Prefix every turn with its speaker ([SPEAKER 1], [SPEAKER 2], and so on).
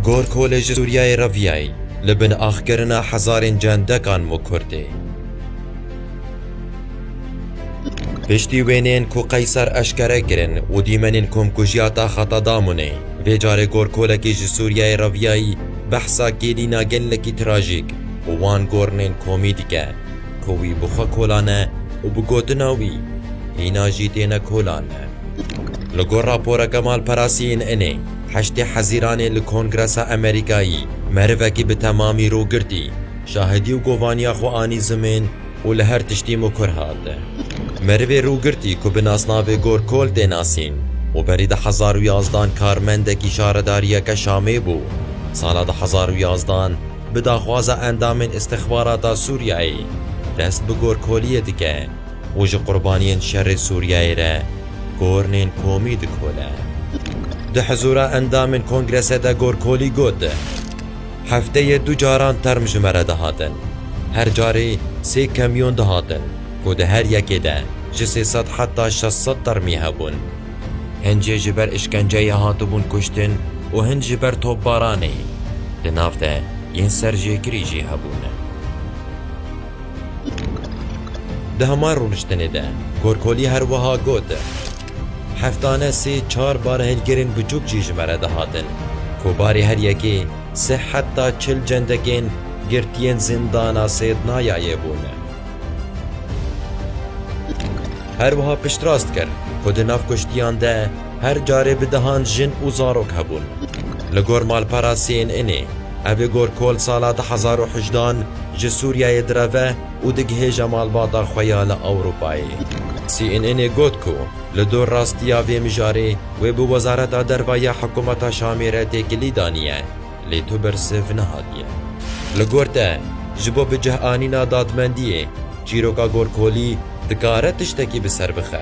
[SPEAKER 1] Gorkolê ji Sûriyeyê re viyayî li bin axkirina hezarên cendekan û Kurdê. Piştî wêneyên ku Qeyser eşkere kirin û dîmenên komkujiya taxa Tadamunê, vê carê gorkolekî ji Sûriyeyê re viyayî behsa kêlîna gelekî trajîk û wan gorinên komî dike ku wî bi xwe kolane û bi gotina wî, hîna jî têne kolane. Li gor raporeke malperasiyên Inê, heştê hezîranê li Kongresa Amerîkayî merivekî bi temamî rû girtî, şahidî û govaniya xwe anî zimên û li her tiştî mûkur hat. Merivê rû girtî ku bi nasnavê Gorkol tê nasîn û berî di hezar û yazdan karmendekî şaredariyeke Şamê bû, sala du hezar û yazdan bi daxwaza endamên îstixbarata Sûriyeyê dest bi gorkoliyê dike. û ji qurbaniyên şerê Sûriyeyê re kornên komî dikole. Di hizûra endamên kongrese de Gorkolî got, Hefteyê du caran term ji me re dihatin. Her carê sê kamyon dihatin ku di her yekê de ji sê sed heta şeş sed termî hebûn. Hin jê ji ber îşkenceyê hatibûn kuştin û hin ji ber topbaranê. Di nav de yên serjêkirî jî hebûn. Di hemar rûniştinê de Gorkolî her wiha got, Heftane sê çar barhilgirên biçûk jî ji me re dihatin ku barê her yekê sih heta çil cendekên girtiyên zîndana Sêdnayayê bûn. Her wiha piştrast kir ku di nav kuştiyan de Her carê bi dehan jin û zarok hebûn. Li gor malpera CNNê, ev ê gor kol sala du hezar û hejdan ji Sûriyeyê direve û digihêje malbata xwe ya li Ewropayê. CNNê got ku li dor rastiya vê mijarê wê bi Wezareta Derve ya Hikûmeta Şamê re têkilî daniye, lê tu bersiv nehatiye. Li gor te, ji bo bi cihanîna dadmendiyê, çîroka gorkolî dikare tiştekî bi ser bixe.